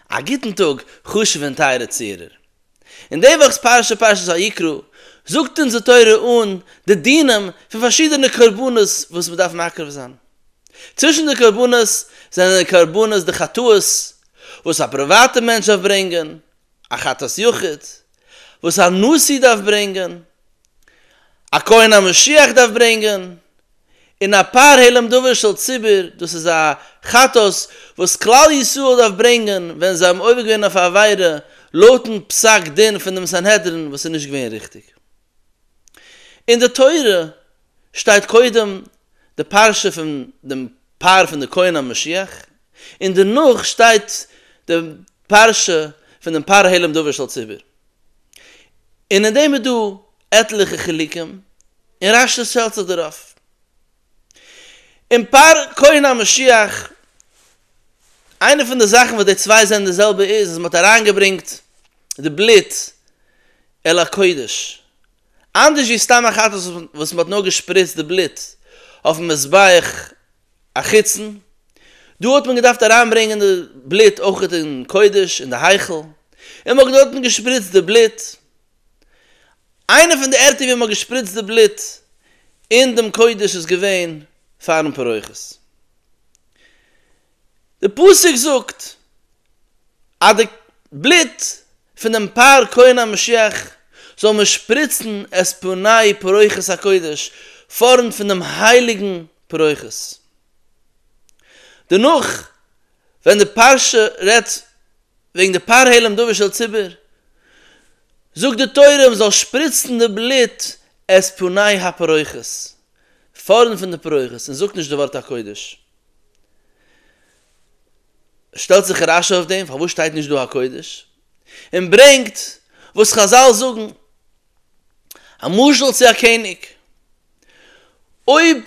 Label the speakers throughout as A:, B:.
A: א גוטן טאג חשוב'ע און טייערע צוהערער. אין די וואכ'ס פרשה פרשת ויקרא זאגט אונז די תורה אן די דינים פון פארשידענע קרבנות וואס מען דארף מקריב זיין. צווישן די קרבנות זענען די קרבנות די חטאות וואס א פריוואטע מענטש דארף ברענגען, א חטאת יחיד וואס א נשיא דארף ברענגען, א כהן המשיח דארף ברענגען, און א פאר העלם דבר של ציבור, דאס איז א חטאת וואס כלל ישראל דארף ברענגען ווען זיי האבן עובר געווען אויף א עבירה לויטן פסק דין פון דעם סנהדרין וואס איז נישט געווען ריכטיג. אין די תורה שטייט קודם די פרשה פון דעם פאר פון די כהן המשיח, און דערנאך שטייט די פרשה פון דעם פאר העלם דבר של ציבור, און אין דעם איז דא עטליכע חילוקים, און רש י שטעלט זיך דערויף אין פר' כהן המשיח. איינע פון די זאכן וואס די צוויי זענען די זעלבע איז אז מען האט אריינגעברענגט די בלוט אל הקודש, אנדערש ווי סתם א חתס וואס מען האט נאר געשפריצט די בלוט אויפן מזבח החיצון, דא האט מען געדארפט אריינברענגען די בלוט אויך אין קודש אין די היכל, און מען האט דארטן געשפריצט די בלוט. איינע פון די ערטער ווי מען האט געשפריצט די בלוט אין דעם קודש איז געווען פארן פרוכת. די פסוק זאגט אז די בלוט פון דעם פר כהן המשיח זאל מען שפריצן את פני פרוכת הקודש פארנט פון דעם הייליגן פרוכת. דערנאך ווען די פרשה רעדט וועגן די פאר העלים דבר של ציבור, זאגט די תורה מ'זאל שפריצן די בלוט את פני הפרויכעס, פארנט פון די פרויכעס, און זאגט נישט די ווארט הקודש. שטעלט זיך רשי אויף דעם, פארוואס שטייט נישט דא הקודש? און ברענגט וואס חזל זאגן א משל צו א קעניג, אויב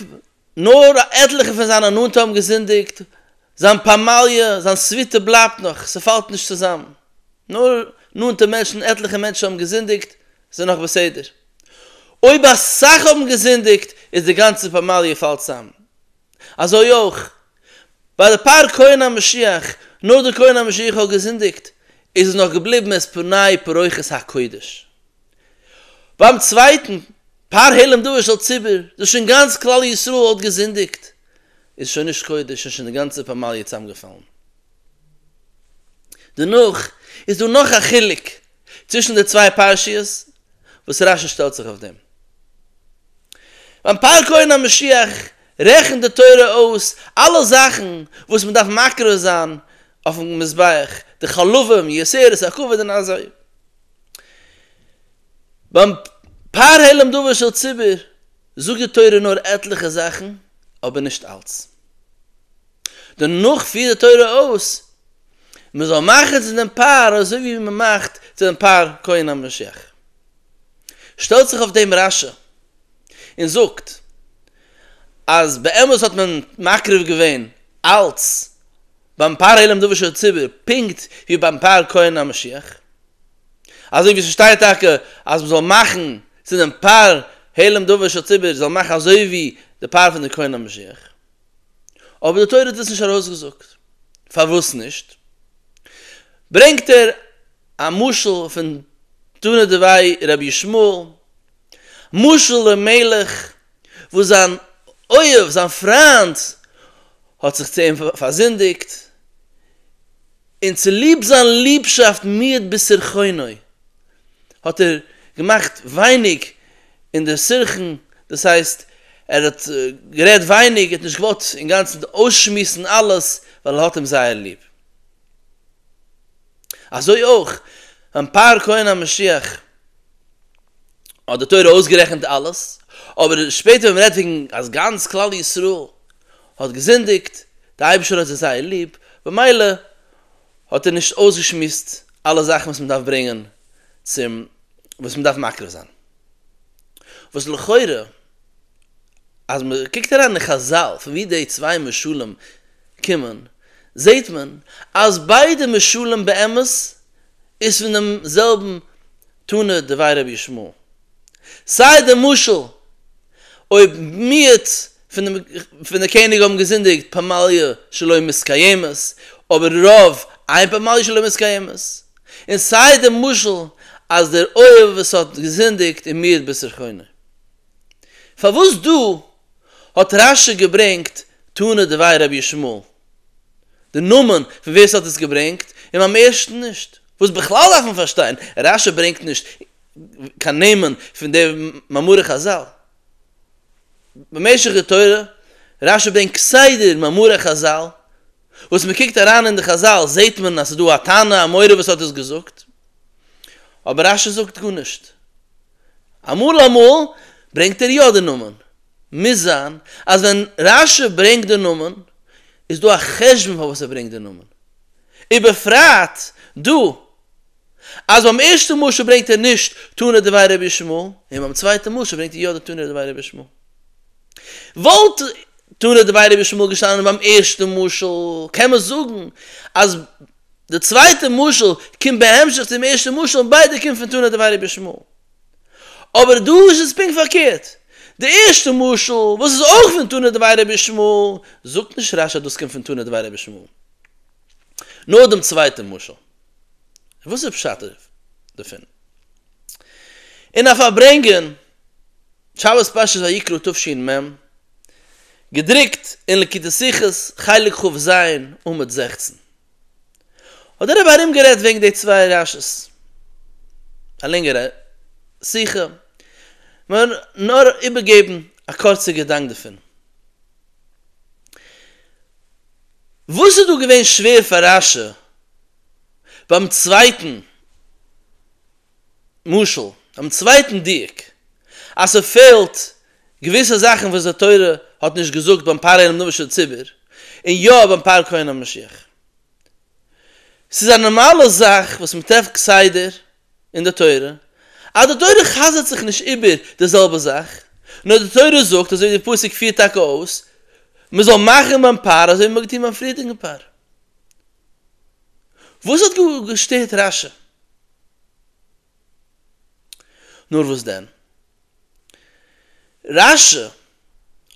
A: נאר א עטליכע פון זיינע נאנטע האבן געזינדיגט, זיין פמליא, זיין סוויטע בלייבט נאך, ס'פאלט נישט צוזאם. נאר נאנטע מענטשן, עטליכע מענטשן האבן געזינדיגט, ס'איז נאך בסדר. אויב אסאך האבן געזינדיגט איז די גאנצע פמליא פאלט צוזאם. אזוי אויך, ביי די פאר כהן המשיח, נאר די כהן המשיח האט געזינדיגט, איז עס נאך געבליבן עז פני פרוכת הקודש. ביים צווייטן פאר העלם דבר של ציבור, דאס שוין גאנץ כלל ישראל האט געזינדיגט, איז שוין נישט קודש און שוין די גאנצע פמליא צאמגעפאלן. דערנאך איז דא נאך א חילוק צווישן די צוויי פרשיות וואס רש י שטעלט זיך אויף דעם. ביים פאר קרן המשיח רעכנט די תורה אויס אלע זאכן וואס מען דארף מקריב זיין אויפן מזבח, די חלבים, יערות, הכבוד און אזוי. ביים פארהעלם דבר של ציבור זאגט די תורה נאר עטליכע זאכן אבער נישט אלץ. דערנאך פירט די תורה אויס מען זאל מאכן צו דעם פאר אזוי ווי מען מאכט צו דעם פאר כהן המשיח. שטעלט זיך אויף דעם רשע און זאגט אז באמת האט מען מקריב געווען אלץ ביים פארהעלם דבר של ציבור פונקט ווי ביים פאר כהן המשיח. אזוי ווי ס'שטייט טאקע אז מ'זאל מאכן צו דעם פאר העלם דבר של ציבור זאל מאכן אזוי ווי די פאר פון די כהן המשיח, אבער די תורה האט דאס נישט ארויסגעזאגט, פארוואס נישט? ברענגט ער א משל פון תנא דבי רבי ישמעאל, משל דעם מלך וואס זיין אוהב, זיין פריינד, האט זיך צו אים פארזינדיגט, און צוליב זיין ליבשאפט מיעט בסירחונו, האט ער געמאכט ווייניג אין דער סירחון, דאס הייסט, ער האט גערעדט ווייניג, ער האט נישט געוואלט אינגאנצן אויסשמועסן אלעס, ווייל ער האט אים זייער ליב. אזוי אויך, ביים פאר כהן המשיח, האט די תורה אויסגערעכנט אלעס, אבער שפעטער ווען מ'רעדט וועגן אז גאנץ כלל ישראל האט געזינדיגט, דער אייבערשטער האט זיי זייער ליב, במילא האט ער נישט אויסגעשמועסט אלע זאכן וואס מען דארף ברענגען צום וואס מען דארף מקריב זיין, וואס לכאורה אז מען קוקט אריין אין חזל פון ווי די צוויי משלים קומען, זעט מען אז ביידע משלים באמת איז פון דעם זעלבן תנא דבי רבי ישמעאל. סיי די משל אויב מיעוט פון די קעניג האבן געזינדיגט פמליא שלא מתקיימת אבער רוב איין פמליא שלא מתקיימת, און סיי די משל אז דער אויב וואס האט געזינדיגט איז מיעוט בסר כונה. פארוואס דא האט רש י געברענגט תנא דבי רבי ישמעאל די נאמען פון ווער ס'האט עס געברענגט און ביים ערשטן נישט? וואס בכלל דארף מען פארשטיין רש י ברענגט נישט קיין נעמען פון די מאמרי חזל במשך די תורה, רש י ברענגט כסדר מאמרי חזל, וואס מען קוקט אריין אין די חזל זעט מען אז ס'איז דא א תנא אמורא וואס האט עס געזאגט, אבער רש י זאגט גארנישט, אמאל אמאל ברענגט ער יא די נאמען, מוז זיין אז ווען רש י ברענגט די נאמען איז דא א חשבון פארוואס ער ברענגט די נאמען, ובפרט דא. אז ביים ערשטן משל ברענגט ער נישט תנא דבי רבי שמואל, און ביים צווייטן משל ברענגט ער יא די תנא דבי רבי שמואל. וואלט תנא דבי רבי שמואל געשטאנען ביים ערשטן משל, קען מען זאגן אז די צווייטע משל קומט בהמשך צום ערשטן משל און ביידע קומט פון תנא דבי רבי שמואל. אבער דא איז עס פונקט פארקערט, די ערשטע משל וואס איז אויך פון תנא דבי רבי שמואל, זאגט נישט רש א דאס קומט פון תנא דבי רבי שמואל, נאר דעם צווייטן משל. וואס איז פשט דערפון? און א פארברענגען שבת פרשת ויקרא תשפ מ, געדרוקט אין לקוטי שיחות חלק כ ז עמוד זעכצן, האט דער רבי ארומגערעדט וועגן די צוויי רשת, א לענגערע שיחה, מיר נאר איבערגעבן א קורצע געדאנק דערפון. וואס איז דא געווען שווער פאר רשע ביים צווייטן משל, ביים צווייטן דיוק, אז ס'פעלט געוויסע זאכן וואס די תורה האט נישט געזאגט ביים פאר אינעם נביא של ציבור, און יא ביים פאר כהן המשיח? ס'איז א נארמאלע זאך וואס מ'טרעפט כסדר אין די תורה, אז די תורה חזר'ט זיך נישט איבער די זעלבע זאך, נאר די תורה זאגט אזוי ווי די פסוק פירט טאקע אויס, מען זאל מאכן ביים פאר אזוי ווי מען האט געטון ביים פריערדיגן פאר. וואס האט געשטערט רש י? נאר וואס דען? רש י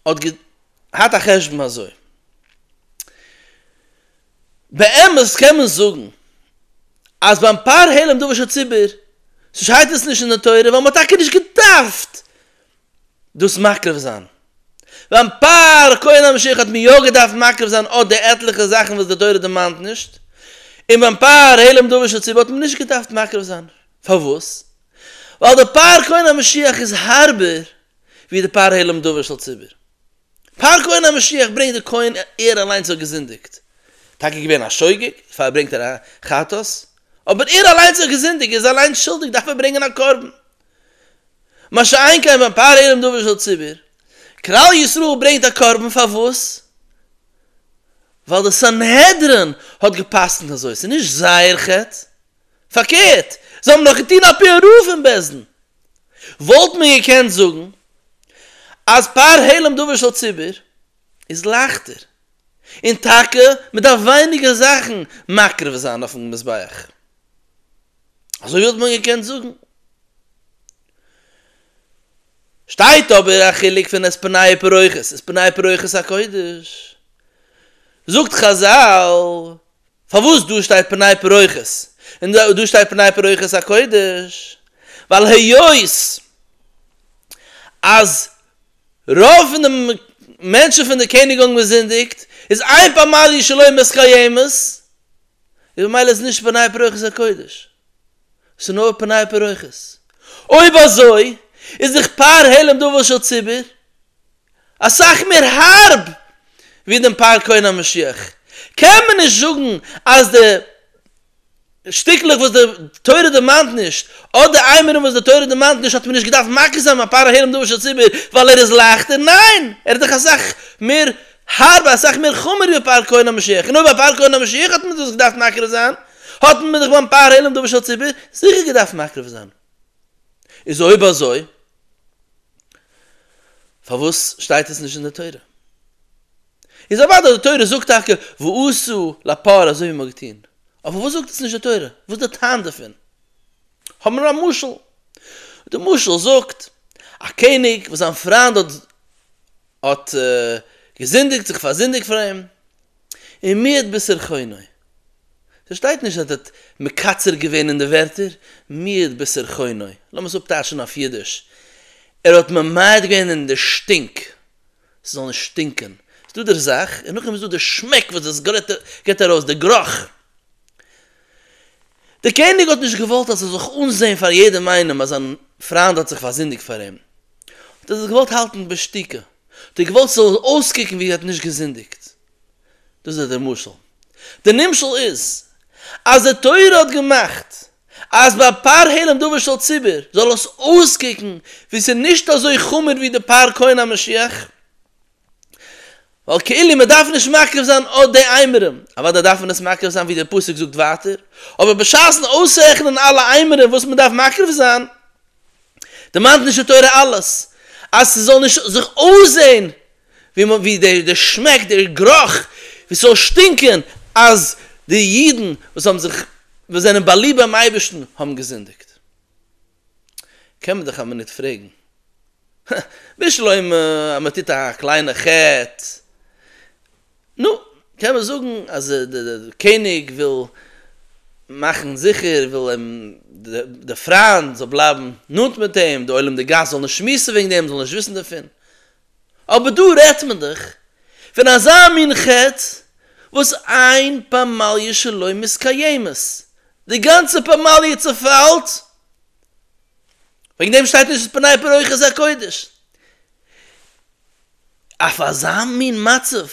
A: האט געהאט א חשבון אזוי, באמת קען מען זאגן אז ביים פאר העלם דבר של ציבור שטייט עס נישט אין די תורה ווייל מען האט טאקע נישט געדארפט דאס מקריב זיין, ביים פאר כהן המשיח האט מען יא געדארפט מקריב זיין אט די עטליכע זאכן וואס די תורה דערמאנט נישט, און ביים פאר העלם דבר של ציבור האט מען נישט געדארפט מקריב זיין, פארוואס? ווייל די פאר כהן המשיח איז הארבער ווי די פאר העלם דבר של ציבור. פאר כהן המשיח ברענגט די כהן ער אליינס האט געזינדיגט, טאקע געווען א שוגג, דערפאר ברענגט ער א חטאת, אבער ער אליינס האט געזינדיגט, ער איז אליינס שולדיג דארף ער ברענגען א קרבן. מה שאין כן ווען פאר ערום דבר של ציבור, כלל ישראל ברענגט א קרבן פארוואס? ווייל די סנהדרין האט גע'פסק'נט אזוי, ס'איז נישט זייער חטא, פארקערט, זיי האבן דאך געטון על פי הרוב אין בית דין, וואלט מען געקענט זאגן אז פאר העלם דבר של ציבור איז לייכטער, און טאקע מען דארף ווייניגער זאכן מקריב זיין אויפן מזבח. אזוי וואלט מען געקענט זאגן. שטייט אבער א חילוק פון עס פניי פרוכת עס פניי פרוכת הקודש. זאגט חזל. פארוואס דא שטייט פני פרוכת און דא שטייט פני פרוכת הקודש? ווייל היות אז רוב פון די מענטשן פון די קעניג האבן געזינדיגט איז איין פמליא שלא מסקיימת איז ממילא איז נישט פני פרוכת הקודש ס'איז נאר פני פרוכת אויב אזוי איז דאך פאר העלם דבר של ציבור אסאך מער הארב ווי דעם פאר כהן המשיח, קען מען נישט זאגן אז די שטיקלעך וואס די תורה דערמאנט נישט, אדער איימערן וואס די תורה דערמאנט נישט האט מען נישט געדארפט מכה זיין ביי פאר הערם דבר של ציבור ווייל ער איז לייכטער, ניין! ער איז דאך אסאך מער הארב אסאך מער חמור ווי פאר כהן המשיח, און אויב ביי פאר כהן המשיח האט מען דאס געדארפט מקרב זיין, האט מען דאך ביים פאר הערם דבר של ציבור זיכער געדארפט מקרב זיין. איז אויב אזוי פארוואס שטייט עס נישט אין די תורה? איז אוודאי די תורה זאגט טאקע ועשו לפרעה אזוי ווי מען האט געטון, אבער פארוואס זאגט עס נישט די תורה? וואס איז די טעם דערפון? האבן מיר א משל, די משל זאגט, א קעניג וואס זיין פריינד האט האט געזינדיגט, זיך פארזינדיגט פאר אים, און מי את בשר חוני. ס'שטייט נישט אז ער האט מקצר געווען אין די ווערטער, מי את בשר חוני, לאמיר עס אפטייטשן אויף אידיש, ער האט ממעט געווען אין די שטינק, ס'זאל נישט שטינקען, איז דא דער זאך, און נאכדעם איז דא דער שמעק וואס דאס גיבט ארויס, דער גרוך. דער קעניג האט נישט געוואלט אז ס'זאל זיך אנזען פאר יעדעם איינעם אז זיין פריינד האט זיך פארזינדיגט פאר אים, האט ער דאס געוואלט האלטן בשתיקה, די געוואלט ס'זאל אויסקוקן ווי ער האט נישט געזינדיגט. דאס איז דער משל. דער נמשל איז, אז די תורה האט געמאכט אז ביי פר העלם דבר של ציבור זאל עס אויסקוקן ווי ס'איז נישט אזוי חמור ווי די פר כהן המשיח, ווייל כאילו מ'דארף נישט מקריב זיין אט די איימערען, אוודאי דארף מען עס מקריב זיין ווי דער פסוק זאגט ווייטער, אבער בשעת'ן אויסרעכענען אלע איימערען וואס מ'דארף מקריב זיין, דערמאנט נישט די תורה אלעס אז ס'זאל נישט זיך אויסזען ווי דער שמעק דער גרוך ווי ס'זאל שטינקען אז די אידן וואס האבן זיך וואס זענען באליבט ביים אייבערשטן האבן געזינדיגט. קען מען דאך א מינוט פרעגן, הא, בשלומי אז מען טוט א קליינע חטא נו, קען מען זאגן אז דער קעניג וויל מאכן זיכער, וויל אים, די פריינד זאל בלייבן נאנט מיט אים, די עולם די גאס זאל נישט שמועסן וועגן דעם, זאל נישט וויסן דערפון. אבער דא רעדט מען דאך פון אזא מין חטא וואס איין פמליא שלא מתקיימת, די גאנצע פמליא צעפאלט, וועגן דעם שטייט נישט פני פרוכת הקודש. אויף אזא מין מצב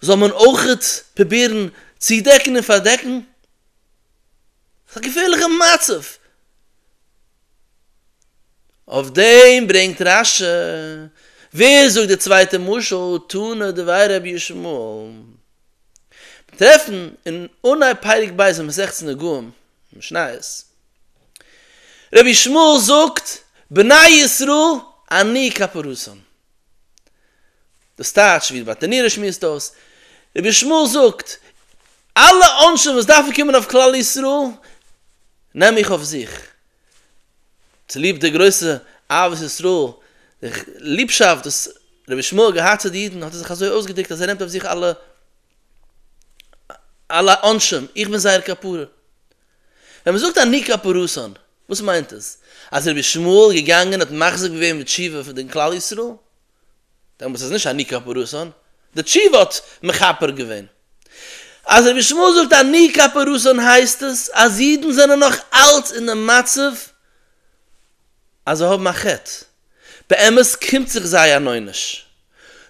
A: זאל מען אויכעט פרובירן צודעקן און פארדעקן? ס'איז א געפערליכע מצב! אויף דעם ברענגט רש י, ווער זאגט די צווייטע משל, תנא דבי רבי ישמעאל. מיר טרעפן אין אנהייב פרק ב' אין מסכת נגעים, משניות, רבי שמואל זאגט, בני ישראל אני כפרוסם. דאס טייטש ווי די באטענירער שמועסט אויס, רבי שמואל זאגט, אלע עונשים וואס דארפן קומען אויף כלל ישראל, נעם איך אויף זיך. צוליב די גרויסע אהבת ישראל, די ליבשאפט וואס רבי שמואל האט געהאט צו די אידן, האט ער זיך אזוי אויסגעדרוקט אז ער נעמט אויף זיך אלע על העונשים, איך בין זייער כפרה. ווען מען זאגט אני כפרתן, וואס מיינט עס? אז רבי שמואל איז געגאנגען האט מחזק געווען די תשובה פון די כלל ישראל? דעמאלטס איז נישט אני כפרתן, די תשובה האט מכפר געווען. אז רבי שמואל זאגט אני כפרתן הייסט עס אז אידן זענען נאך אלץ אין די מצב אז זיי האבן א חטא. באמת קומט זיך זיי אן עונש.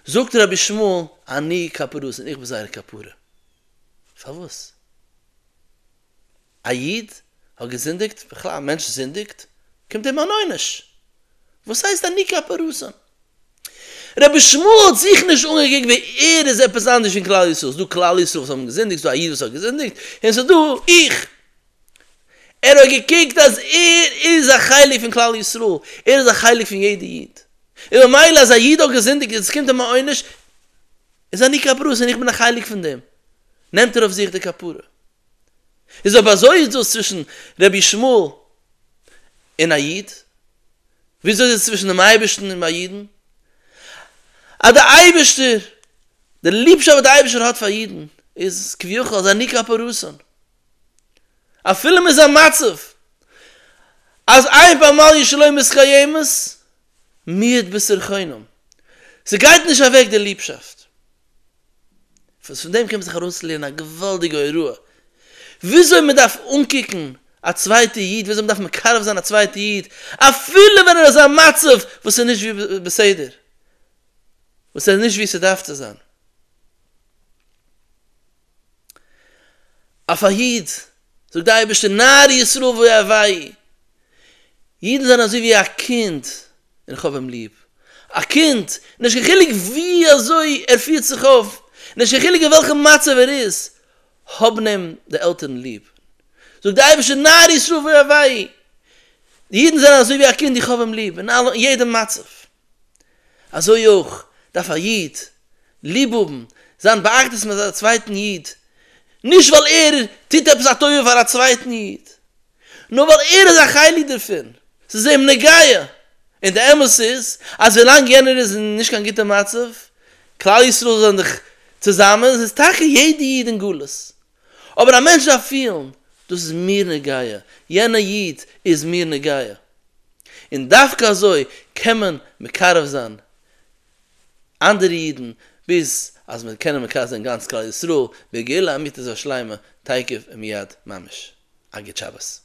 A: זאגט רבי שמואל, אני כפרות און איך בין זייער כפרה. פארוואס? א איד האט געזינדיגט, בכלל א מענטש זינדיגט, קומט אים אן עונש. וואס הייסט אני כפרות? רבי שמואל האט זיך נישט אנגעקוקט ווער ער איז עפעס אנדערש פון כלל ישראל. ס'איז דא כלל ישראל וואס האבן געזינדיגט, ס'איז דא א איד וואס האט געזינדיגט, און ס'איז דא איך. ער האט געקוקט אז ער איז א חלק פון כלל ישראל, ער איז א חלק פון יעדע איד, און ממילא אז א איד האט געזינדיגט און עס קומט אים א עונש, איז אני כפרות און איך בין א חלק פון דעם, נעמט ער אויף זיך די כפרה. איז אויב אזוי איז דאס צווישן רבי ישמעאל און א איד, וויאזוי איז עס צווישן דעם אייבערשטן און ביי אידן? אז דער אייבערשטער, די ליבשאפט וואס דער אייבערשטער האט פאר אידן, איז כביכול אז אני כפרתן. אפילו מען איז א מצב אז איין פאר אמאל ישלום איז קיימת מיעט בשר חינם, ס'גייט נישט אוועק די ליבשאפט, וואס פון דעם קען מען זיך ארויסלערנען א געוואלדיגע הוראה וויאזוי מען דארף אנקוקן א צווייטע איד, וויאזוי מען דארף מקרב זיין א צווייטע איד אפילו ווען ער איז א מצב וואס איז נישט ווי בסדר, וואס ער איז נישט ווי ס'דארף צו זיין. אויף א איד, זאגט די אייבערשטער, נער ישראל ואהבי', אידן זענען אזוי ווי א קינד און איך האב אים ליב, א קינד, נישט קיין חילוק ווי אזוי ער פירט זיך אויף, נישט קיין חילוק אין וועלכע מצב ער איז, האבן אים די עלטערן ליב, זאגט די אייבערשטער, נער ישראל ואהבי', אידן זענען אזוי ווי א קינד, איך האב אים ליב, אין יעדע מצב. אזוי אויך דארף א איד ליב האבן זיין באחדות מיט א צווייטן איד, נישט ווייל ער טוט עפעס א טובה פאר א צווייטן איד, נאר ווייל ער איז א חלק דערפון, ס'איז אים נוגע, און די אמת איז אז ווילאנג יענער איז אין נישט קיין גוטע מצב, כלל ישראל זענען דאך צוזאמען, ס'איז טאקע יעדע איד אין גלות. אבער א מענטש דארף פילן, דאס איז מיר נוגע, יענע איד איז מיר נוגע, און דווקא אזוי קען מען מקרב זיין אנדערע אידן, ביז אז מיר קענען מקרב זיין גאנץ כלל ישראל בגאולה אמיתית ושלימה תיכף ומיד ממש. א גוט שבת.